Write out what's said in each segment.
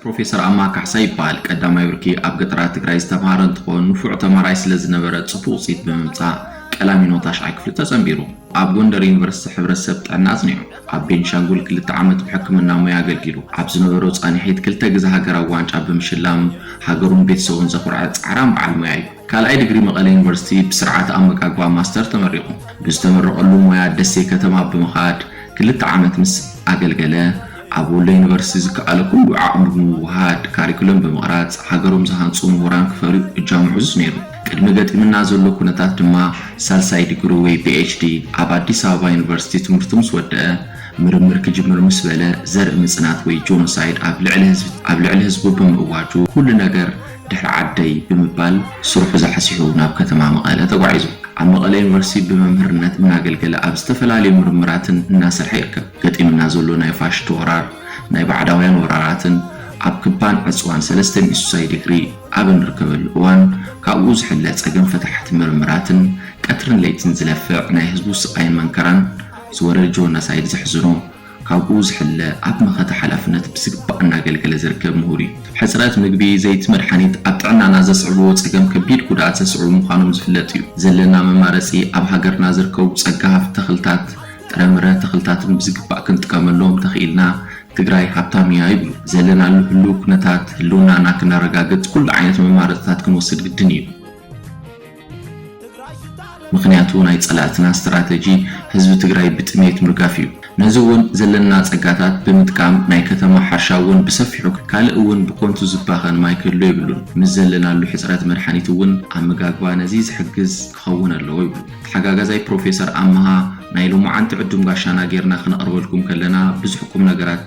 ፕሮፌሰር ኣማ ካሕሳይ ይበሃል። ቀዳማይ ብርኪ ኣብ ገጠራት ትግራይ ዝተምሃረ እንትኾን ንፉዕ ተማሃራይ ስለ ዝነበረ ፅቡቕ ውፅኢት ብምምፃእ ቀላሚኖ ታሽዓይ ክፍሊ ተፀምቢሩ ኣብ ጎንደር ዩኒቨርሲቲ ሕብረተሰብ ጥዕና ኣፅኒዑ ኣብ ቤንሻንጉል ክልተ ዓመት ብሕክምና ሙያ ኣገልጊሉ ኣብ ዝነበሮ ፃኒሒት ክልተ ግዘ ሃገራዊ ዋንጫ ብምሽላም ሃገሩን ቤተሰቡን ዘኹርዐ ፃዕራም በዓል ሙያ እዩ። ካልኣይ ድግሪ መቐለ ዩኒቨርሲቲ ብስርዓተ ኣመጋግባ ማስተር ተመሪቑ። ብዝተመረቐሉ ሞያ ደሴ ከተማ ብምኻድ ክልተ ዓመት ምስ ኣገልገለ፣ ኣብ ወሎ ዩኒቨርሲቲ ዝከኣሎ ኩሉ ዓቕሚ ብምውህሃድ ካሪኩለም ብምቕራፅ ሃገሮም ዝሃንፁ ምሁራን ክፈርዩ እጃሙ ዕዙዝ ነይሩ። ቅድሚ ገጢምና ዘሎ ኩነታት ድማ ሳልሳይ ድግሩ ወይ ፒኤችዲ ኣብ ኣዲስ ኣበባ ዩኒቨርሲቲ ትምህርቱ ምስ ወደኣ ምርምር ክጅምር ምስ በለ ዘርኢ ምፅናት ወይ ጆኖሳይድ ኣብ ልዕሊ ህዝቢ ኣብ ልዕሊ ህዝቡ ብምእዋጁ ኩሉ ነገር ድሕሪ ዓደይ ብምባል ስርሑ ዛሕሲሑ ናብ ከተማ መቐለ ተጓዒዙ። ኣብ መቐለ ዩኒቨርሲቲ ብመምህርነት እናገልገለ ኣብ ዝተፈላለዩ ምርምራትን እናሰርሐ ይርከብ። ገጢምና ዘሎ ናይ ፋሽቱ ወራር፣ ናይ ባዕዳውያን ወራራትን ኣብ ክባን ዕፅዋን ሰለስተ ሚእሱሳይ ድግሪ ኣብ እንርከበሉ እዋን ካብኡ ዝሕለ ፀገም ፈታሕቲ ምርምራትን ቀትርን ለይትን ዝለፍዕ ናይ ህዝቡ ስቓይን መንከራን ዝወረድ ጆኖሳይድ ዘሕዝኖ ካብኡ ዝሕለ ኣብ መኸተ ሓላፍነት ብዝግባእ እናገልገለ ዝርከብ ምሁር እዩ። ሕፅረት ምግቢ፣ ዘይቲ፣ መድሓኒት ኣብ ጥዕናና ዘስዕብዎ ፀገም ከቢድ ጉድኣት ዘስዕቡ ምዃኖም ዝፍለጥ እዩ። ዘለና መማረፂ ኣብ ሃገርና ዝርከቡ ፀጋ ሃፍቲ ተኽልታት፣ ጥረምረ፣ ተኽልታትን ብዝግባእ ክንጥቀመሎም ተኽኢልና ትግራይ ሃብታም እያ ይብሉ። ዘለናሉ ህልው ኩነታት ህልውናና ክነረጋግፅ ኩሉ ዓይነት መማረፅታት ክንወስድ ግድን እዩ። ምኽንያቱ ናይ ፀላእትና ስትራተጂ ህዝቢ ትግራይ ብጥምየት ምርጋፍ እዩ። ነዚ እውን ዘለና ፀጋታት ብምጥቃም ናይ ከተማ ሓርሻ እውን ብሰፊሑ ካልእ እውን ብኮንቱ ዝባኸን ማይ ክህሉ የብሉን። ምስ ዘለናሉ ሕፅረት መድሓኒት እውን ኣመጋግባ ነዚ ዝሕግዝ ክኸውን ኣለዎ ይብሉ ተሓጋጋዛይ ፕሮፌሰር ኣመሃ። ናይ ሎማዓንቲ ዕዱም ጋሻና ገይርና ክነቕርበልኩም ከለና ብዙሕ ቁምነገራት።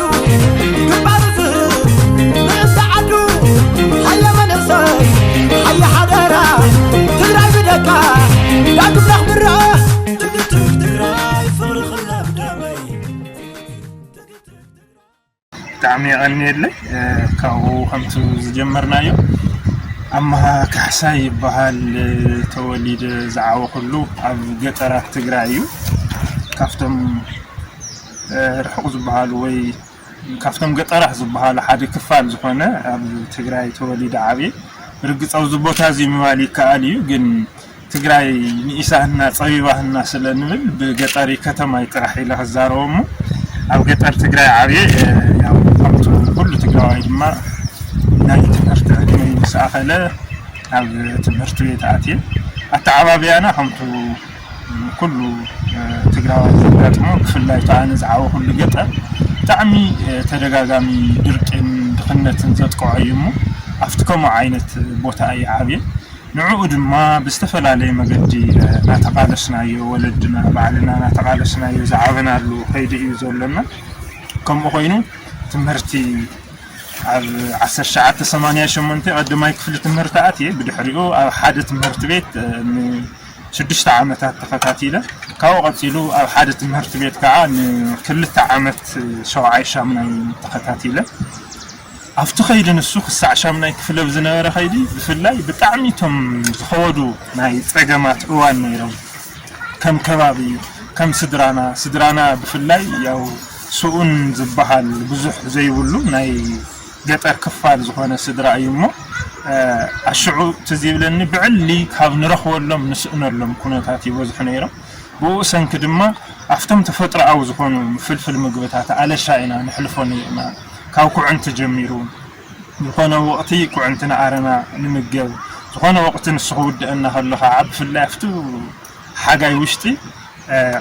ብጣዕሚ የቐንየለይ ካብኡ ከምቲ ዝጀመርናዮ ኣማሃ ካሕሳይ ይበሃል ተወሊደ ዝዓወኹሉ ኣብ ገጠራት ትግራይ እዩ ካብቶም ርሑቕ ዝበሃሉ ወይ ካብቶም ገጠራት ዝበሃሉ ሓደ ክፋል ዝኾነ ኣብ ትግራይ ተወሊደ ዓብየ። ብርግፅ ኣብዚ ቦታ እዚ ምባል ይከኣል እዩ ግን ትግራይ ንኢሳህና ፀቢባህና ስለንብል ብገጠሪ ከተማይ ጥራሕ ኢለ ክዛረቦ እሞ ኣብ ገጠር ትግራይ ዓብየ ያው ከምቱ ኩሉ ትግራዋይ ድማ ናይ ትምህርቲ ዕድመይ ምስ ኣኸለ ኣብ ትምህርቲ ቤት ኣትየ ኣተዓባብያና ከምቱ ኩሉ ትግራዋይ ዘጋጥሞ ብፍላይ እታ ኣነ ዝዓበኹሉ ገጠር ብጣዕሚ ተደጋጋሚ ድርቂን ድኽነትን ዘጥቅዖ እዩ እሞ ኣብቲ ከምኡ ዓይነት ቦታ እየ ዓብየ ንዕኡ ድማ ብዝተፈላለየ መገዲ እናተቓለስናዮ ወለድና ባዕልና እናተቓለስናዮ ዝዓበናሉ ከይዲ እዩ ዘሎና ከምኡ ኮይኑ ትምህርቲ ኣብ 1988 ቀዳማይ ክፍሊ ትምህርቲ ኣትየ ብድሕሪኡ ኣብ ሓደ ትምህርቲ ቤት ን ሽዱሽተ ዓመታት ተኸታቲለ፣ ካብኡ ቀጺሉ ኣብ ሓደ ትምህርቲ ቤት ከኣ ንክልተ ዓመት ሸውዓይ ሻምናይ ተኸታቲለ። ኣብቲ ከይዲ ንሱ ክሳዕ ሻምናይ ክፍሊ ኣብ ዝነበረ ከይዲ ብፍላይ ብጣዕሚ እቶም ዝኸበዱ ናይ ጸገማት እዋን ነይሮም። ከም ከባቢ፣ ከም ስድራና፣ ስድራና ብፍላይ ያው ስኡን ዝበሃል ብዙሕ ዘይብሉ ናይ ገጠር ክፋል ዝኾነ ስድራ እዩ እሞ ኣሽዑ ትዝ ይብለኒ ብዕሊ ካብ ንረኽበሎም ንስእነሎም ኩነታት ይበዝሑ ነይሮም ብኡ ሰንኪ ድማ ኣብቶም ተፈጥሮኣዊ ዝኾኑ ፍልፍል ምግብታት ኣለሻ ኢና ንሕልፎ ነይርና ካብ ኩዕንቲ ጀሚሩ ዝኾነ ወቕቲ ኩዕንቲ ንኣረና ንምገብ ዝኾነ ወቕቲ ንሱ ክውድአና ከሎ ከዓ ብፍላይ ኣብቲ ሓጋይ ውሽጢ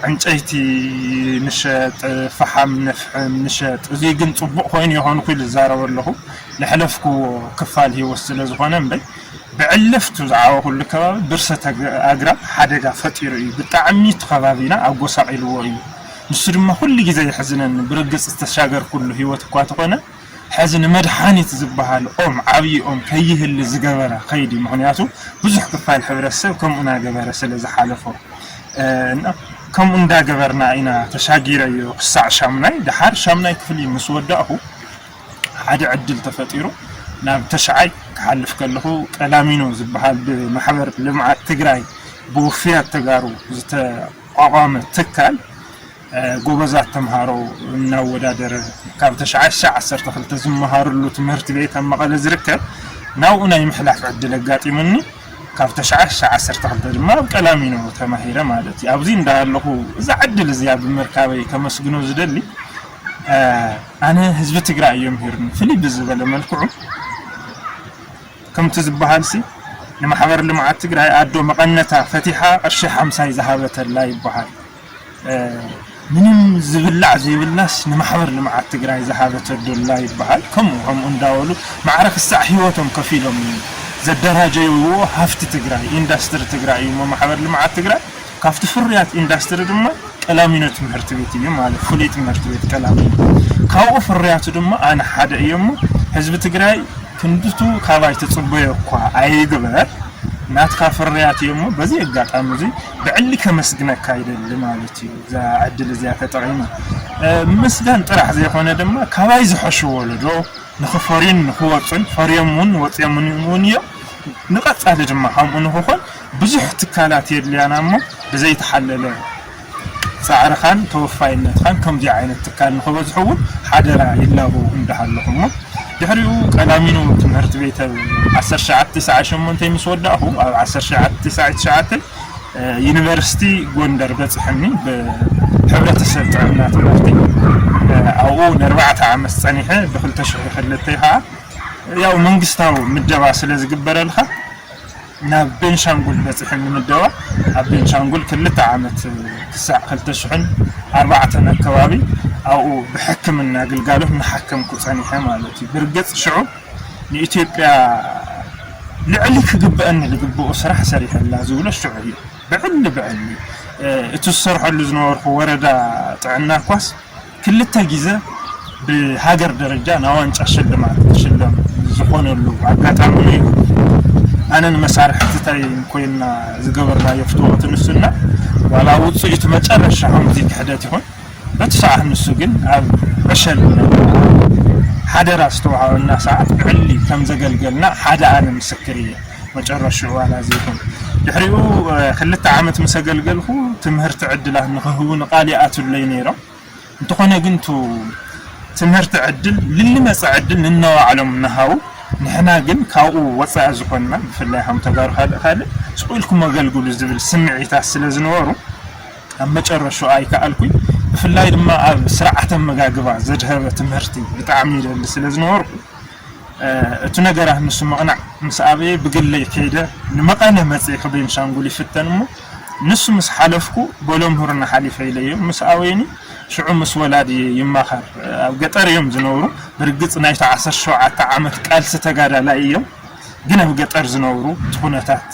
ዕንጨይቲ ንሸጥ ፈሓም ነፍሕም ንሸጥ እዙይ ግን ፅቡቅ ኮይኑ ይኾን ኩል ዝዛረበ ኣለኹ ለሕለፍክዎ ክፋል ህይወት ስለዝኾነ እምበይ ብዕልፍቱ ዝዓወኹሉ ከባቢ ብርሰት ኣግራብ ሓደጋ ፈጢሩ እዩ ብጣዕሚ እቲ ከባቢና ኣጎሳቂልዎ እዩ ንሱ ድማ ኩሉ ግዜ የሕዝነኒ ብርግፅ ዝተሻገርኩሉ ህይወት እኳ ተኾነ ሐዚ ንመድሓኒት ዝበሃል ኦም ዓብዪ ኦም ከይህሊ ዝገበረ ኸይዲ ምኽንያቱ ብዙሕ ክፋል ሕብረተሰብ ከምኡ ናገበረ ስለዝሓለፎ እና ከምኡ እንዳገበርና ኢና ተሻጊረዮ ክሳዕ ሻሙናይ ደሓር ሻሙናይ ክፍሊ ምስወዳእኹ ሓደ ዕድል ተፈጢሩ ናብ ተሽዓይ ክሓልፍ ከለኹ ቀላሚኖ ዝበሃል ብማሕበር ልምዓት ትግራይ ብውፍያት ተጋሩ ዝተቋቋመ ትካል ጎበዛት ተምሃሮ እናወዳደረ ካብ ተሽዓሽዕ ዓሰርተ ክልተ ዝመሃርሉ ትምህርት ቤት ኣብ መቐለ ዝርከብ ናብኡ ናይ ምሕላፍ ዕድል ኣጋጢሙኒ ካብ ተሽዓሽዕ ዓሰርተ ክልተ ድማ ኣብ ቀላሚኖ ተማሂረ ማለት እዩ ኣብዚ እንዳሃለኹ እዛ ዕድል እዚኣ ብምርካበይ ከመስግኖ ዝደሊ ኣነ ህዝቢ ትግራይ እዮም ሂርኒ ፍልይ ብዝበለ መልክዑ ከምቲ ዝበሃልሲ ንማሕበር ልምዓት ትግራይ ኣዶ መቐነታ ፈቲሓ ቅርሺ ሓምሳይ ዝሃበተላ ይበሃል ምንም ዝብላዕ ዘይብላስ ንማሕበር ልምዓት ትግራይ ዝሃበቶ ዶላ ይበሃል ከምኡ ከምኡ እንዳበሉ ማዕረ ክሳዕ ሂወቶም ከፊሎም እዩ ዘደራጀይዎ ሃፍቲ ትግራይ ኢንዳስትሪ ትግራይ እዩሞ ማሕበር ልምዓት ትግራይ ካብቲ ፍርያት ኢንዳስትሪ ድማ ቀላሚኖ ትምህርቲ ቤት እዩ ማለት ፍሉይ ትምህርቲ ቤት ቀላሚኖ ካብኡ ፍርያቱ ድማ ኣነ ሓደ እየሞ ህዝቢ ትግራይ ክንድቱ ካባይ ትፅበዮ እኳ ኣይግበር ናትካ ፍርያት እዩሞ በዚ ኣጋጣሚ እዙይ ብዕሊ ከመስግነካ ይደሊ ማለት እዩ እዛ ዕድል እዚኣ ተጠቒመ ምስጋን ጥራሕ ዘይኮነ ድማ ካባይ ዝሐሹ ወለዶ ንኽፈርዩን ንኽወፁን ፈርዮም እውን ወፅዮም እውን እዮም ንቐፃሊ ድማ ከምኡ ንኽኾን ብዙሕ ትካላት የድልያና እሞ ብዘይተሓለለ ፃዕርኻን ተወፋይነትኻን ከምዚ ዓይነት ትካል ንኽበዝሑ እውን ሓደራ ይላበው እንዳሃለኹ እሞ ድሕሪኡ ቀዳሚኖ ትምህርት ቤት ኣብ ዓሰርተ ትሽዓተ ትስዓት ሸሞንተይ ምስ ወዳእኹ ኣብ ዓሰርተ ትሽዓተ ትስዓት ትሽዓተ ዩኒቨርሲቲ ጎንደር በጽሐኒ ብሕብረተሰብ ጥዕና ትምህርቲ ኣብኡ ንኣርባዕተ ዓመት ጸኒሐ ብክልተ ሽሕ ክልተ ከኣ ያው መንግስታዊ ምደባ ስለ ዝግበረልካ ናብ ቤንሻንጉል በጺሐን ይምደባ። ኣብ ቤንሻንጉል ክልተ ዓመት ክሳዕ ክልተ ሽሕን ኣርባዕተን ኣከባቢ ኣብኡ ብሕክምና ግልጋሎት እናሓከምኩ ጸኒሐ ማለት እዩ። ብርግጽ ሽዑ ንኢትዮጵያ ልዕሊ ክግበኣኒ ዝግበኦ ስራሕ ሰሪሐላ ዝብሎ ሽዑ እዩ። ብዕሊ ብዕሊ እቲ ዝሰርሐሉ ዝነበርኩ ወረዳ ጥዕና እኳስ ክልተ ግዘ ብሃገር ደረጃ ናይ ዋንጫ ሽልማት ክሽለም ዝኾነሉ ኣጋጣሚ ነይሩ። ኣነን መሳርሕትተይን ኮይንና ዝገበርናዮ ፍትወት ንሱና ዋላ ውፅኢቱ መጨረሻ ከምዚ ክሕደት ይኹን በቲ ሰዓት ንሱ ግን ኣብ ዕሸል ሓደራ ዝተውሃበና ሰዓት ብዕሊ ከምዘገልገልና ሓደ ኣነ ምስክር እየ። መጨረሽኡ ኣላዘይኩን። ድሕሪኡ ክልተ ዓመት ምስ ኣገልገልኩ ትምህርቲ ዕድላት ንክህቡኒ ቃል ይኣትውለይ ነይሮም። እንተኾነ ግን እቱ ትምህርቲ ዕድል ልልመፀ ዕድል ንነባዕሎም እናሃቡ ንሕና ግን ካብኡ ወፃኢ ዝኾንና ብፍላይ ከም ተጋሩ ካልእ ካልእ ስቁ ኢልኩም ኣገልግሉ ዝብል ስምዒታት ስለዝነበሩ ኣብ መጨረሽኡ ኣይከኣልኩኝ። ብፍላይ ድማ ኣብ ስርዓተ ኣመጋግባ ዘድሀበ ትምህርቲ ብጣዕሚ ይደሊ ስለዝነበርኩ እቱ ነገራት ንሱ ምቕናዕ ምስ ኣበየ ብግለይ ከይደ ንመቐለ መፅየ ከቤንሻንጉል ይፍተን እሞ ንሱ ምስ ሓለፍኩ ቦሎምሁርና ሓሊፈ ኢለዮም ምስ ኣወየኒ ሽዑ ምስ ወላድየ ይማኸር ኣብ ገጠር እዮም ዝነብሩ ብርግፅ ናይቱ ዓሰርተ ሸውዓተ ዓመት ቃልሲ ተጋዳላይ እዮም ግን ኣብ ገጠር ዝነብሩ እቲ ኩነታት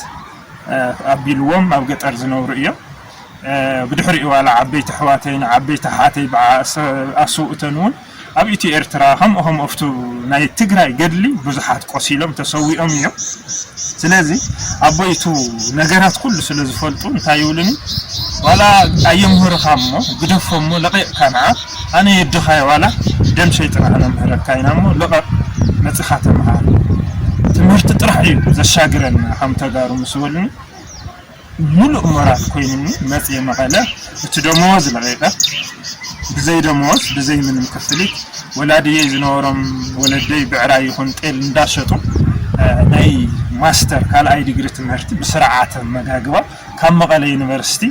ኣቢልዎም ኣብ ገጠር ዝነብሩ እዮም ብድሕሪኡ ዋላ ዓበይቲ ኣሕዋተይን ዓበይቲ ኣሓተይ ብዓሰብ ኣስውእተን እውን ኣብ ኢትዮ ኤርትራ ከምኡ ከምኡ ኣብቱ ናይ ትግራይ ገድሊ ብዙሓት ቆሲሎም ተሰዊኦም እዮም ስለዚ ኣቦይ እቱ ነገራት ኩሉ ስለ ዝፈልጡ እንታይ ይብሉኒ ዋላ ኣየምህሩኻ እሞ ግደፎ እሞ ለቂቕካ ንዓ ኣነ የድኻየ ዋላ ደም ሸይጥና ከነምህረካ ኢና እሞ ልቐቕ መፂኻ ተምሃር ትምህርቲ ጥራሕ እዩ ዘሻግረና ከም ተጋሩ ምስ በሉኒ ምሉእ ሞራል ኮይኑኒ መጺኤ መቐለ እቲ ደመወዝ ለቒቐ ብዘይ ደመወዝ ብዘይ ምንም ክፍሊት ወላድየይ ዝነበሮም ወለደይ ብዕራይ ይኹን ጤል እንዳሸጡ ናይ ማስተር ካልኣይ ዲግሪ ትምህርቲ ብስርዓተ ኣመጋግባ ካብ መቐለ ዩኒቨርሲቲ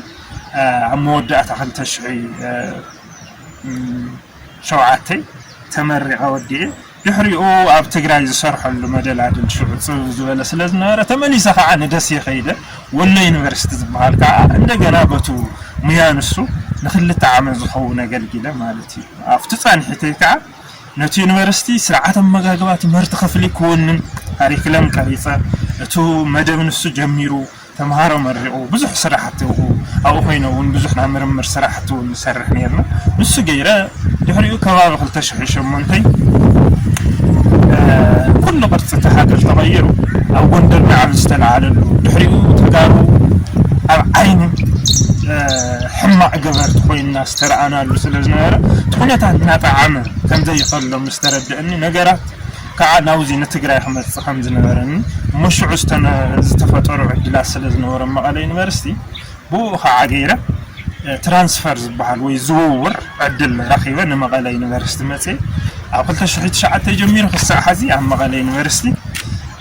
ኣብ መወዳእታ ክልተ ሽሕን ሸውዓተን ተመሪቐ ወዲኤ። ድሕሪኡ ኣብ ትግራይ ዝሰርሐሉ መደላድል ሽዑ ጽብብ ዝበለ ስለ ዝነበረ ተመሊሰ ከኣ ንደሴ ከይደ። ወሎ ዩኒቨርሲቲ ዝበሃል ከኣ እንደገና በቱ ሙያ ንሱ ንክልተ ዓመት ዝኸውን ኣገልጊለ ማለት እዩ። ኣብቲ ጻንሒተይ ከኣ ነቲ ዩኒቨርሲቲ ስርዓት ኣመጋግባ ትምህርቲ ክፍሊ ክውንን ካሪክለም ቀሪጸ። እቱ መደብ ንሱ ጀሚሩ። ተምሃሮ መሪቑ ብዙሕ ስራሕቲ ኣብኡ ኣብኡ ኮይነ እውን ብዙሕ ናይ ምርምር ስራሕቲ እውን ንሰርሕ ነይርና ንሱ ገይረ ድሕሪኡ ከባቢ ክልተ ሽሕን ሸሞንተን ኩሉ ቅርፂ እቲ ሃገር ተቐይሩ ኣብ ጎንደር ናዕቢ ዝተለዓለሉ ድሕሪኡ ተጋሩ ኣብ ዓይኒ ሕማቕ ገበርቲ ኮይንና ዝተረኣናሉ ስለ ዝነበረ እቲ ኩነታት እናጠዓመ ከም ዘይኸሎም ምስ ተረድእኒ ነገራት ካዓ ናብዚ ንትግራይ ክመፅእ ከምዝነበረኒ እሞ ሽዑ ዝተፈጠሩ ዕድላት ስለዝነበሩ ኣብ መቐለ ዩኒቨርሲቲ ብኡኡ ካዓ ገይረ ትራንስፈር ዝበሃል ወይ ዝውውር ዕድል ረኺበ ንመቐለ ዩኒቨርሲቲ መፅየ ኣብ ክልተ ሽሕ ትሽዓተ ጀሚሩ ክሳዕ ሓዚ ኣብ መቐለ ዩኒቨርሲቲ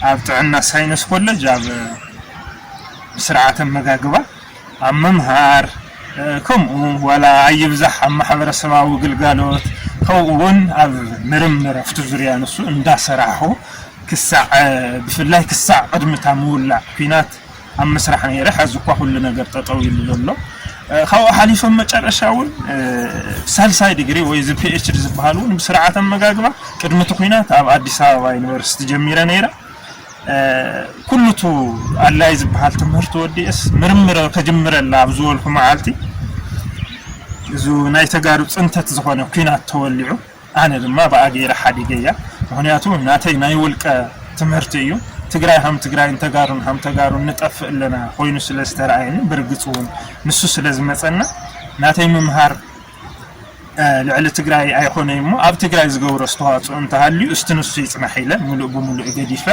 ኣብ ጥዕና ሳይነስ ኮለጅ ኣብ ስርዓተ ኣመጋግባ ኣብ ምምሃር ከምኡ ዋላ ኣይብዛሕ ኣብ ማሕበረሰባዊ ግልጋሎት ከምኡ ውን ኣብ ምርምር ኣብቲ ዙርያ ንሱ እንዳሰራሕኹ ክሳዕ ብፍላይ ክሳዕ ቅድሚ እታ ምውላዕ ኲናት ኣብ ምስራሕ ነይረ ሐዚ እኳ ኩሉ ነገር ጠጠው ኢሉ ዘሎ ካብኡ ሓሊፈ መጨረሻ ውን ሳልሳይ ዲግሪ ወይ እዚ ፒኤችዲ ዝበሃል ውን ብስርዓተ ኣመጋግባ ቅድሚ እቲ ኲናት ኣብ ኣዲስ ኣበባ ዩኒቨርሲቲ ጀሚረ ነይረ ኩሉ እቱ ኣድላይ ዝበሃል ትምህርቲ ወዲኤስ ምርምር ከጅምረላ ኣብ ዝበልኩ መዓልቲ እዙ ናይ ተጋሩ ፅንተት ዝኾነ ኩናት ተወሊዑ ኣነ ድማ ብኣ ገይረ ሓዲገያ ምክንያቱ ናተይ ናይ ውልቀ ትምህርቲ እዩ ትግራይ ሃም ትግራይን ተጋሩን ሃም ተጋሩን ንጠፍእ ኣለና ኮይኑ ስለ ዝተረኣየኒ ብርግፅ እውን ንሱ ስለ ዝመፀና ናተይ ምምሃር ልዕሊ ትግራይ ኣይኾነይ እሞ ኣብ ትግራይ ዝገብሮ ኣስተዋፅኦ እንተሃልዩ እስቲ ንሱ ይፅናሕ ኢለ ሙሉእ ብሙሉእ ገዲፈ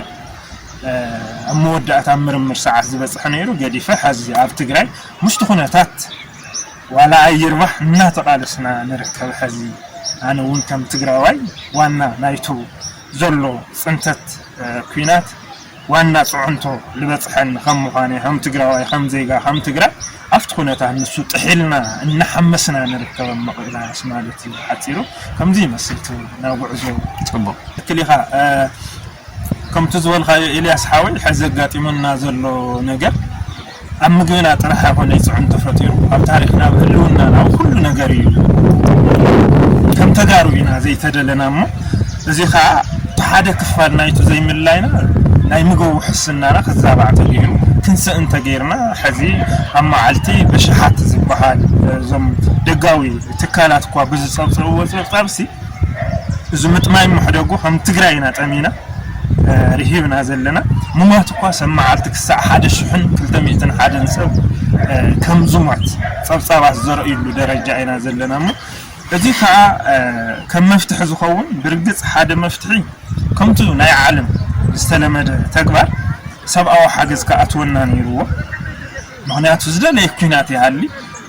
ኣብ መወዳእታ ኣብ ምርምር ሰዓት ዝበፅሐ ነይሩ ገዲፈ ሐዚ ኣብ ትግራይ ምስቲ ኩነታት ዋላ ኣይርባሕ እናተቓለስና ንርከብ ሐዚ ኣነ እውን ከም ትግራዋይ ዋና ናይቱ ዘሎ ፅንተት ኩናት ዋና ፅዕንቶ ልበፅሐኒ ከም ምዃነይ ከም ትግራዋይ ከም ዜጋ ከም ትግራይ ኣብቲ ኩነታት ንሱ ጥሒልና እናሓመስና ንርከብ ኣብ ምቕላስ ማለት እዩ ብሓፂሩ ከምዚ ይመስል እቲ ናይ ጉዕዞ ፅቡቕ ትክክል ኢኻ ከምቲ ዝበልካዮ ኤልያስ ሓወይ ሐዚ ኣጋጢሙና ዘሎ ነገር ኣብ ምግብና ጥራሕ ኣይኮነይ ፅዕንቶ ፈጢሩ ኣብ ታሪኽና ኣብ ህልውናና ኣብ ኩሉ ነገር እዩ ከም ተጋሩ ኢና ዘይተደለና እሞ እዚ ከዓ ሓደ ክፋል ናይቱ ዘይምልላይና ናይ ምግብ ውሕስናና ክዛባዕ ተገይሩ ክንስእ እንተገይርና ሕዚ ኣብ መዓልቲ ብሽሓት ዝበሃል እዞም ደጋዊ ትካላት እኳ ብዝፀብፀብዎ ፀብፃብሲ እዚ ምጥማይ ምሕደጉ ከም ትግራይ ኢና ጠሚና ርሂብና ዘለና ምሟት እኳ ሰብ መዓልቲ ክሳዕ ሓደ ሽሕን ክልተ ሚእትን ሓደን ሰብ ከም ዝሟት ጸብጻባት ዘርእዩሉ ደረጃ ኢና ዘለና እሞ እዚ ከዓ ከም መፍትሒ ዝኸውን ብርግጽ ሓደ መፍትሒ ከምቱ ናይ ዓለም ዝተለመደ ተግባር ሰብኣዊ ሓገዝ ክኣትወና ነይርዎ ምክንያቱ ዝደለየ ኩናት ይሃሊ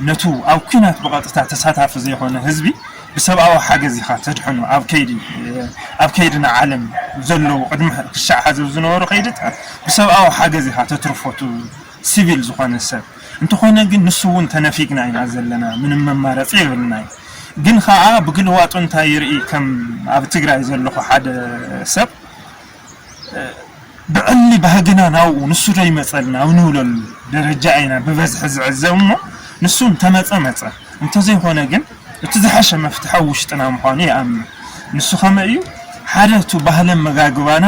ነቱ ኣብ ኩናት ብቐጥታ ተሳታፊ ዘይኮነ ህዝቢ ብሰብኣዊ ሓገዝ ኢኻ ተድሕኖ ኣብ ከይዲ ኣብ ከይዲ ንዓለም ዘለዉ ቅድሚ ክሻዕ ሓዚ ኣብ ዝነበሩ ከይድታት ብሰብኣዊ ሓገዝ ኢኻ ተትርፎ እቲ ሲቪል ዝኾነ ሰብ እንተኾነ ግን ንሱ እውን ተነፊግና ኢና ዘለና ምንም መማረፂ የብልናይ ግን ኸዓ ብግልዋጡ እንታይ ይርኢ ከም ኣብ ትግራይ ዘለኹ ሓደ ሰብ ብዕሊ ባህግና ናብኡ ንሱ ዶ ይመጸልና ኣብ ንብለሉ ደረጃ ኢና ብበዝሒ ዝዕዘብ እሞ ንሱ እንተመጸ መጸ እንተዘይኮነ ግን እቲ ዝሐሸ መፍትሒ ኣብ ውሽጥና ምዃኑ ይኣምን ንሱ ከመይ እዩ ሓደ እቱ ባህሊ ኣመጋግባና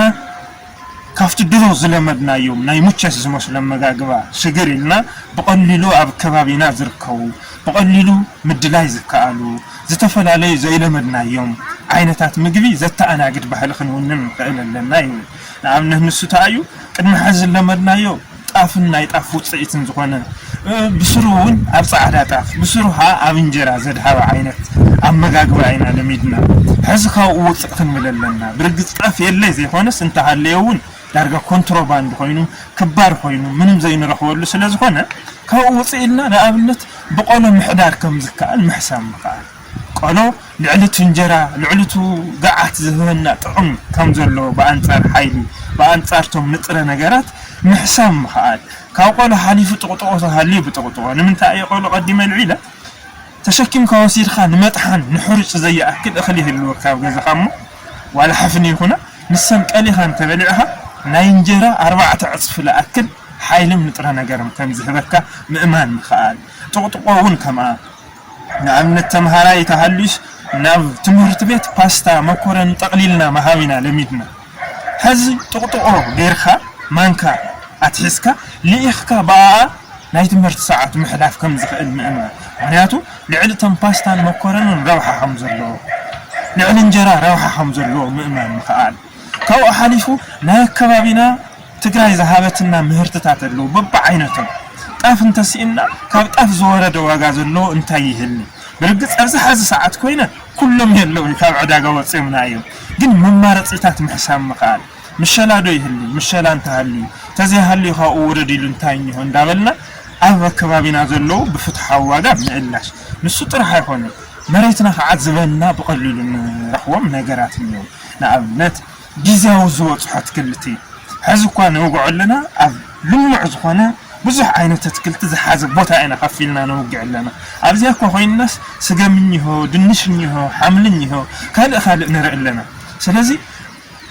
ካብቲ ድሮ ዝለመድናዮም ናይ ሙቸት ዝመስሉ ኣመጋግባ ሽግር ኢልና ብቐሊሉ ኣብ ከባቢና ዝርከቡ ብቐሊሉ ምድላይ ዝከኣሉ ዝተፈላለዩ ዘይለመድናዮም ዓይነታት ምግቢ ዘተኣናግድ ባህሊ ክንውንን ንኽእል ኣለና ይብል። ንኣብነት ንሱ ታይ እዩ ቅድሚ ሐዚ ዝለመድናዮ ጣፍን ናይ ጣፍ ውፅኢትን ዝኾነ ብስሩ እውን ኣብ ፃዕዳ ጣፍ ብስሩ ኸዓ ኣብ እንጀራ ዘድሃበ ዓይነት ኣመጋግባ ኢና ለሚድና ሐዚ ካብኡ ውፅእ ክንብል ኣለና ብርግፅ ጣፍ የለ ዘይኾነስ እንተሃለየ እውን ዳርጋ ኮንትሮባንድ ኮይኑ ክባር ኮይኑ ምንም ዘይንረኽበሉ ስለዝኾነ ካብኡ ውፅእ ኢልና ንኣብነት ብቆሎ ምሕዳር ከምዝከኣል ምሕሳብ ምኽኣል ቆሎ ልዕሊ እቲ እንጀራ ልዕሊ እቲ ገዓት ዝህበና ጥቕሚ ከምዘለዎ ብኣንፃር ሓይሊ ብኣንፃር እቶም ንጥረ ነገራት ምሕሳብ ምኽኣል ካብ ቆሎ ሓሊፉ ጥቕጥቖ ተሃልዩ ብጥቕጥቖ ንምንታይ እየ ቆሎ ቀዲመ ኣልዒለ ተሸኪምካ ወሲድካ ንመጥሓን ንሕሩጭ ዘያኣክል እኽሊ ይህልወካ ኣብ ገዛኻ እሞ ዋላ ሕፍኒ ይኹና ንሰን ቀሊኻ እንተበሊዕኻ ናይ እንጀራ ኣርባዕተ ዕጽፊ ልኣክል ሓይልን ንጥረ ነገርን ከም ዝህበካ ምእማን ምኽኣል ጥቕጥቖ እውን ከምኣ ንኣብነት ተምሃራይ ተሃልዩስ ናብ ትምህርት ቤት ፓስታ መኮረኒ ጠቕሊልና ምሃብ ኢና ለሚድና። ሐዚ ጥቅጥቆ ገይርካ ማንካ ኣትሒዝካ ልኢኽካ ብኣኣ ናይ ትምህርቲ ሰዓት ምሕላፍ ከምዝኽእል ምእማን ምኽንያቱ ልዕሊ እቶም ፓስታን መኮረንን ረብሓ ከምዘለዎ ልዕሊ እንጀራ ረብሓ ከምዘለዎ ምእማን ምኽኣል ካብኡ ሓሊፉ ናይ ኣከባቢና ትግራይ ዝሃበትና ምህርትታት ኣለዉ በብዓይነቶም ጣፍ እንተሲእና ካብ ጣፍ ዝወረደ ዋጋ ዘለዎ እንታይ ይህሊ ብርግፅ ኣብዚ ሐዚ ሰዓት ኮይነ ኩሎም የለዉን ካብ ዕዳጋ ወጺኦምና እዮም ግን መማረጺታት ምሕሳብ ምክኣል ምሸላ ዶ ይህሉ ምሸላ እንተሃልዩ ተዘይሃልዩ ካብኡ ውረድ ኢሉ እንታይ እኒሆ እንዳበልና ኣብ ከባቢና ዘለዉ ብፍትሓዊ ዋጋ ምእላሽ ንሱ ጥራሕ ኣይኮነን መሬትና ክዓ ዝበልና ብቀሊሉ ንረክቦም ነገራት እኒዉ ንኣብነት ግዝያዊ ዝወጽሑ ኣትክልቲ ሐዚ እኳ ንወግዖ ኣለና ኣብ ልሙዕ ዝኾነ ብዙሕ ዓይነት ኣትክልቲ ዝሓዘ ቦታ ኢና ከፍ ኢልና ነውግዕ ኣለና ኣብዚኣ እኳ ኮይንናስ ስገም እኒሆ ድንሽ እኒሆ ሓምሊ እኒሆ ካልእ ካልእ ንርኢ ኣለና ስለዚ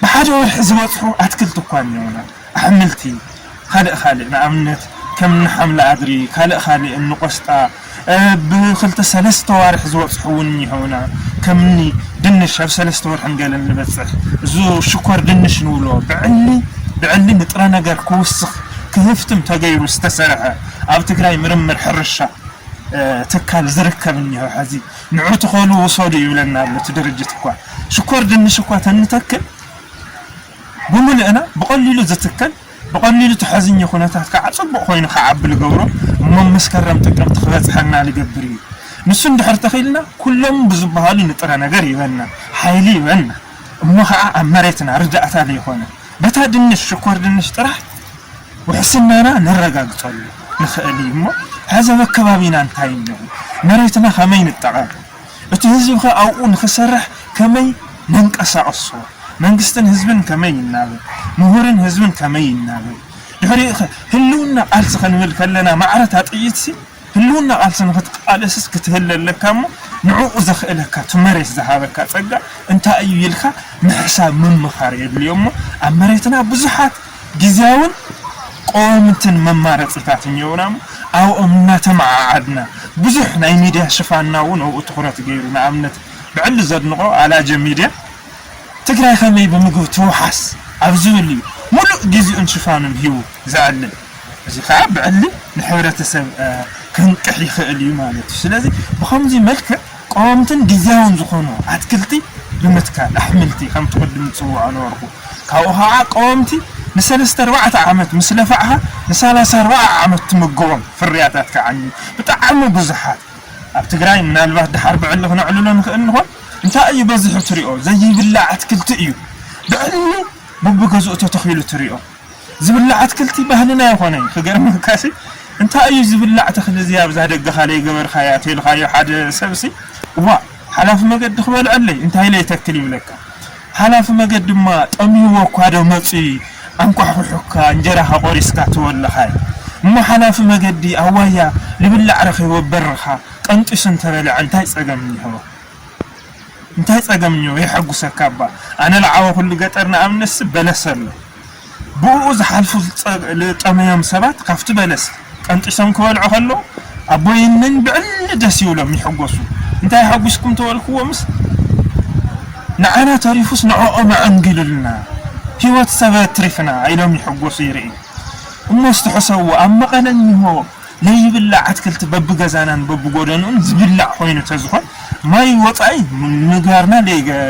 ብሓደ ወርሒ ዝበጽሑ ኣትክልቲ እኳ እኒኦና ኣሕምልቲ ኻልእ ኻልእ ንኣብነት ከም እኒ ሓምሊ ኣድሪ ካልእ ኻልእ እኒ ቆስጣ ብ ኽልተ ሰለስተ ኣዋርሕ ዝበፅሑ እውን እኒሀውና ከም እኒ ድንሽ ኣብ ሰለስተ ወርሕን ገለን ልበፅሕ እዝ ሽኮር ድንሽ ንብሎ ብዕሊ ብዕሊ ንጥረ ነገር ክውስኽ ክህፍትም ተገይሩ ዝተሰርሐ ኣብ ትግራይ ምርምር ሕርሻ ትካል ዝርከብ እኒሀው ሐዚ ንዑ ትኸሉ ውሰዱ ይብለና ኣሎ እቲ ድርጅት እኳ ሽኮር ድንሽ እኳ ተንተክል ብምልእና ብቐሊሉ ዝትከል ብቐሊሉ ተሐዝኚ ኩነታት ካዓ ፅቡቕ ኮይኑ ክዓቢ ልገብሮ እሞ መስከረም ጥቅምቲ ክበፅሐና ልገብር እዩ ንሱ እንድሕር ተኺልና ኩሎም ብዝባሃሉ ንጥረ ነገር ይበና ሓይሊ ይበና እሞ ካዓ ኣብ መሬትና ርዳእታ ልይኾነ በታ ድንሽ ሽኮር ድንሽ ጥራሕ ውሕስናና ነረጋግፀሉ ንኽእል እሞ ሐዚ ኣብ ኣከባቢና እንታይ እኒኦ መሬትና ከመይ ንጠቐም እቲ ህዝቢ ከ ኣብኡ ንክሰርሕ ከመይ ነንቀሳቕሶ? መንግስትን ህዝብን ከመይ ይናበብ? ምሁርን ህዝብን ከመይ ይናበብ? ድሕሪኡ ከ ህልውና ቃልሲ ክንብል ከለና ማዕረ እታ ጥይትሲ ህልውና ቃልሲ ንክትቃለስስ ክትህለ ኣለካ እሞ ንዕኡ ዘኽእለካ እቲ መሬት ዝሃበካ ጸጋ እንታይ እዩ ኢልካ ምሕሳብ ምምኻር የድልዮ እሞ ኣብ መሬትና ብዙሓት ግዝያውን ቀዋምትን መማረፂታት እኒኦውና እሞ ኣብኦም እናተመዓዓድና ብዙሕ ናይ ሚድያ ሽፋንና እውን ኣብኡ ትኹረት ገይሩ ንኣብነት ብዕሊ ዘድንቖ ኣላጀ ሚድያ ትግራይ ከመይ ብምግቢ ትውሓስ ኣብ ዝብል እዩ ሙሉእ ጊዚኡን ሽፋኑን ሂቡ ዘዕልል እዚ ከዓ ብዕሊ ንሕብረተሰብ ከንቅሕ ይኽእል እዩ ማለት እዩ ስለዚ ብኸምዙይ መልክዕ ቀወምትን ግዝያውን ዝኾኑ ኣትክልቲ ብምትካል፣ ኣሕምልቲ ከም ትቕድም ዝጽውዖ ነበርኩ። ካብኡ ከኣ ቀወምቲ ንሰለስተ ኣርባዕተ ዓመት ምስ ለፋዕካ ንሳላሳ ኣርባዓ ዓመት ትምግቦም ፍርያታት ክዓንዩ ብጣዕሚ ብዙሓት ኣብ ትግራይ ምናልባት ድሓር ብዕሊ ክነዕልሎ ንኽእል ንኾን እንታይ እዩ በዚሑ ትሪኦ ዘይብላዕ ኣትክልቲ እዩ ብዕሊ ቡብገዝኡ ተተኺሉ ትሪኦ ዝብላዕ ኣትክልቲ ባህልና ኣይኾነን ክገርመካሲ እንታይ እዩ ዝብላዕ ተኽሊ እዚ ኣብዛ ደገኻ ለይገበርካያ ተልኻዮ ሓደ ሰብሲ እዋእ ሓላፊ መገዲ ክበልዐለይ እንታይ ለይተክል ይብለካ ሓላፊ መገዲ ድማ ጠምዩዎ እኳዶ መፅዩ ኣንኳሕኩሑካ እንጀራኻ ቆሪስካ ትወልኻይ እሞ ሓላፊ መገዲ ኣዋያ ልብላዕ ረኺቡ ኣብ በርኻ ቀንጢሱ እንተበልዐ እንታይ ፀገም እኒሀዎ እንታይ ጸገም እኒኦ የሐጉሰካ እባ ኣነ ልዓበኹሉ ገጠር ንኣብነትሲ በለስ ኣሎ ብኡኡ ዝሓልፉ ልጠመዮም ሰባት ካብቲ በለስ ቀንጢሶም ክበልዑ ከለዉ ኣቦይ እንን ብዕሊ ደስ ይብሎም ይሕጎሱ እንታይ የሐጉስኩም ተበልክዎምስ ንዓና ተሪፉስ ንዕኦም ኣዐንጊሉልና ህይወት ሰበ ኣትሪፍና ኢሎም ይሕጎሱ ይርኢ እሞ እስቲ ሕሰብዎ ኣብ መቐለ እኒሆ ናይ ይብላዕ ኣትክልቲ በብገዛናን በብጎደንኡን ዝብላዕ ኮይኑ ተዝኾን ማይ ወፃኢ ምግባርና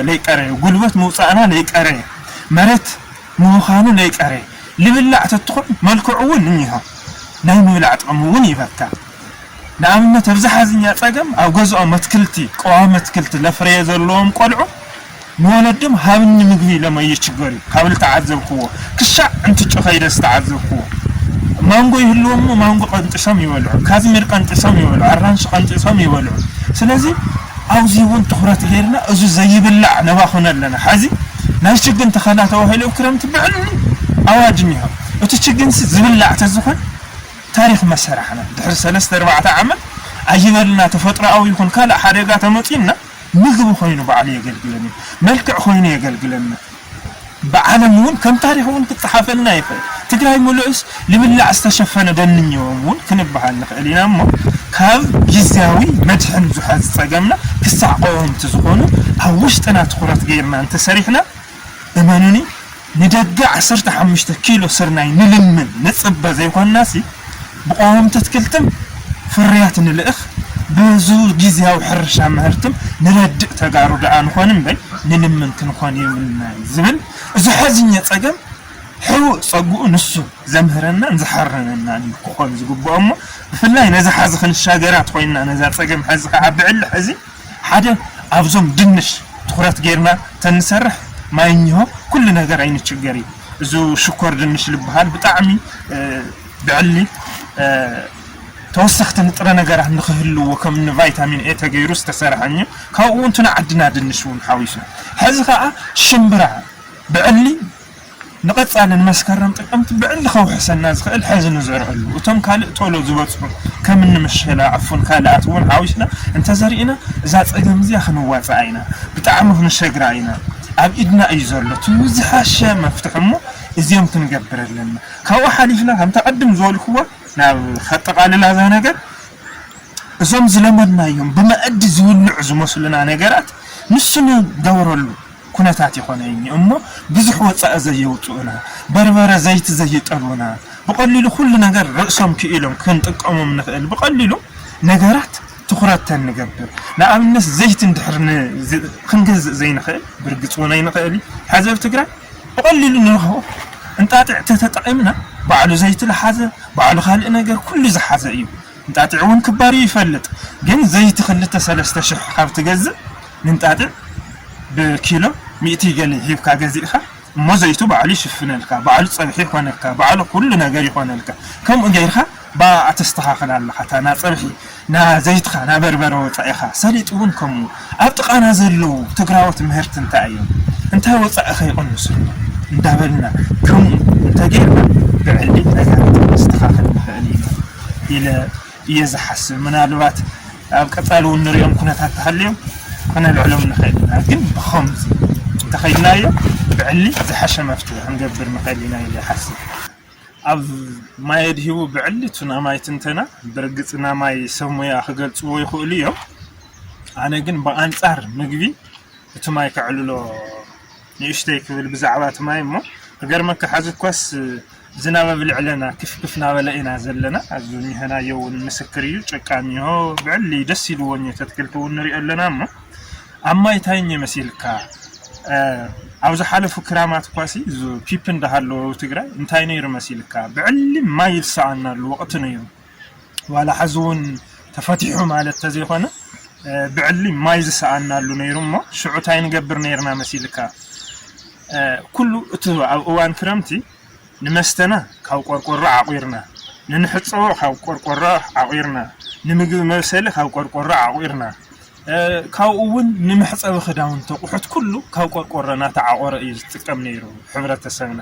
ለይቀረየ፣ ጉልበት ምውፃእና ለይቀረየ፣ መሬት ምብኻኑ ለይቀረየ ልብላዕ ተትኾን መልክዑ እውን እኒሆ ናይ ምብላዕ ጥቕሚ እውን ይበካ። ንኣብነት ኣብዚ ሓዝኛ ፀገም ኣብ ገዝኦም ኣትክልቲ፣ ቀዋሚ ኣትክልቲ ለፍረየ ዘለዎም ቆልዑ፣ ንወለድም ሃብኒ ምግቢ ኢሎም ኣይችገር እዩ ካብ ልተዓዘብክዎ ክሻዕ እንትጮ ከይደ ዝተዓዘብክዎ ማንጎ ይህልዎም እሞ ማንጎ ቀንጥሾም ይበልዑ ካዝሚር ቀንጥሾም ይበልዑ ኣራንሺ ቀንጢሶም ይበልዑ ስለዚ ኣውዚ እውን ትኩረት ገይርና እዚ ዘይብላዕ ነባኹነ ኣለና ሐዚ ናይ ችግን ተኸላ ተባሂሉ ኣብ ክረምቲ ብዕሊ ኣዋጅ እኒሆ እቲ ችግንሲ ዝብላዕ ተዝኾን ታሪክ መሰራሕና ድሕሪ ሰለስተ ኣርባዕተ ዓመት ኣይበልና ተፈጥሮኣዊ ይኹን ካልእ ሓደጋ ተመፅዩና ምግቢ ኮይኑ ባዕሉ የገልግለኒ መልክዕ ኮይኑ የገልግለና ብዓለም ውን ከም ታሪክ ውን ክጸሓፈልና ይክእል ትግራይ ምሉእስ ልብላዕ ዝተሸፈነ ደንንየዎም ውን ክንብሃል ንክእል ኢና እሞ ካብ ግዝያዊ መድሕን ዙሓ ዝጸገምና ክሳዕ ቀወምቲ ዝኮኑ ኣብ ውሽጥና ትኩረት ገይርና እንተሰሪሕና እመኑኒ ንደገ ዓሰርተ ሓሙሽተ ኪሎ ስርናይ ንልምን ንጽበ ዘይኮንናሲ ብቀወምቲ ኣትክልትም ፍርያት ንልእኽ በዙ ጊዚያዊ ሕርሻ ምህርትም ንረድእ ተጋሩ ደኣ ንኾን እምበይ ንልምን ክንኾን የብልናን ዝብል እዙ ሓዚኘ ጸገም ሕቡእ ጸግኡ ንሱ ዘምህረናን ዝሓረነናን እዩ ክኾን ዝግብኦሞ ብፍላይ ነዛ ሓዚ ክንሻገራ ተኾይንና ነዛ ጸገም ሓዚ ክዓ ብዕሊ ሕዚ ሓደ ኣብዞም ድንሽ ትኩረት ገይርና ተንሰርሕ ማይ እኝሆ ኩሉ ነገር ኣይንችገር እዩ እዙ ሽኮር ድንሽ ልብሃል ብጣዕሚ ብዕሊ ተወሰኽቲ ንጥረ ነገራት ንክህልዎ ከም እኒ ቫይታሚን ኤ ተገይሩ ዝተሰርሐ እኝ ካብኡ እውን ትናዓድና ድንሽ እውን ሓዊሱ ሕዚ ከዓ ሽምብራ ብዕሊ ንቐፃሊ ንመስከረም ጥቅምቲ ብዕሊ ከውሕሰና ዝኽእል ሐዚ ንዘርኣሉ እቶም ካልእ ቶሎ ዝበፅሑ ከምኒ ምሸላ ዕፉን ካልኣት እውን ሓዊስና እንተዘሪእና እዛ ፀገም እዚኣ ክንዋፃኣ ኢና ብጣዕሚ ክንሸግራ ኢና ኣብ ኢድና እዩ ዘሎ እቲ ዝሐሸ መፍትሒ እሞ እዚኦም ክንገብር ኣለና ካብኡ ሓሊፍና ከምታ ቅድም ዝበልክዋ ናብ ከጠቓልላ እዛ ነገር እዞም ዝለመድናዮም ብመኣዲ ዝብልዑ ዝመስሉና ነገራት ንሱ ንገብረሉ ኩነታት ይኾነይኒ እሞ ብዙሕ ወጻኢ ዘየውጽኡና፣ በርበረ ዘይቲ ዘይጠልቡና፣ ብቐሊሉ ኩሉ ነገር ርእሶም ክኢሎም ክንጥቀሞም ንኽእል ብቐሊሉ ነገራት ትኹረት ተንገብር፣ ንኣብነት ዘይቲ እንድሕር ን ክንገዝእ ዘይንኽእል ብርግጽ እውን ኣይንኽእል ሕዚ ኣብ ትግራይ ብቐሊሉ ንረኽቦ እንጣጢዕ ተተጠቒምና ባዕሉ ዘይቲ ልሓዘ ባዕሉ ካልእ ነገር ኩሉ ዝሓዘ እዩ እንጣጢዕ እውን ክባርዩ ይፈልጥ ግን ዘይቲ ክልተ ሰለስተ ሽሕ ካብ ትገዝእ ንእንጣጢዕ ብኪሎ ሚእቲ ገለ ሂብካ ገዚእኻ እሞ ዘይቱ ባዕሉ ይሽፍነልካ ባዕሉ ጸብሒ ይኾነካ ባዕሉ ኩሉ ነገር ይኾነልካ ከምኡ ገይርካ ብኣኣ ተስተኻኽላ ኣለኻ እታ ናጸብሒ ናዘይትኻ ናበርበረ ወጻኢኻ ሰሊጥ ውን ከምኡ ኣብ ጥቃና ዘለዉ ትግራዎት ምህርቲ እንታይ እዮም እንታይ ወጻኢኸ ይቕንሱ ኣሎ እንዳበልና ከምኡ እንተገይርና ብዕሊ ነጋሪት ክነስተኻኽል ንኽእል ኢና ኢለ እየ ዝሓስብ ምናልባት ኣብ ቀፃሊ እውን ንሪኦም ኩነታት ተሃልዮም ክነልዕሎም ንኽእል ኢና ግን ብኸምዚ እንተኸይድናዮ ብዕሊ ዝሓሸ መፍትሒ ክንገብር ንኽእል ኢና ኢለ ይሓስብ ኣብ ማይ ኣድሂቡ ብዕሊ ቱናማይ ትንተና ብርግፅ ናማይ ሰብ ሙያ ክገልፅዎ ይኽእሉ እዮም ኣነ ግን ብኣንፃር ምግቢ እቲ ማይ ከዕልሎ ንእሽተይ ክብል ብዛዕባ እቲ ማይ እሞ ክገርመካ ሐዚ እኳስ ዝናብ ኣብ ልዕለና ክፍ ክፍ ናበለ ኢና ዘለና ኣብዚ እኒሀናዮ እውን ምስክር እዩ ጭቃ እኒሆ ብዕሊ ደስ ኢልዎ እኒ ተትክልቲ እውን ንሪኦ ኣለና እሞ ኣብ ማይ እንታይ እኒ መሲልካ እ፣ ኣብ ዝሓለፉ ክራማት እኳሲ እዚ ፒፒ እንዳሃለወ ኣብ ትግራይ እንታይ ነይሩ መሲልካ ብዕሊ ማይ ዝሰኣናሉ ወቕቲ ነይሩ ዋላ ሐዚ ውን ተፈቲሑ ማለት ተዘይኮነ ብዕሊ ማይ ዝሰኣናሉ ነይሩ እሞ ሽዑ ታይ ንገብር ነይርና መሲልካ ኩሉ እቲ ኣብ እዋን ክረምቲ ንመስተና ካብ ቆርቆሮ ዓቑርና ንንሕፀቦ ካብ ቆርቆሮ ዓቑርና ንምግቢ መብሰሊ ካብ ቆርቆሮ ዓቑርና ካብኡ እውን ንመሕፀቢ ክዳውንቲ ኣቑሑት ኩሉ ካብ ቆርቆሮ እናተዓቖረ እዩ ዝጥቀም ነይሩ ሕብረተሰብና።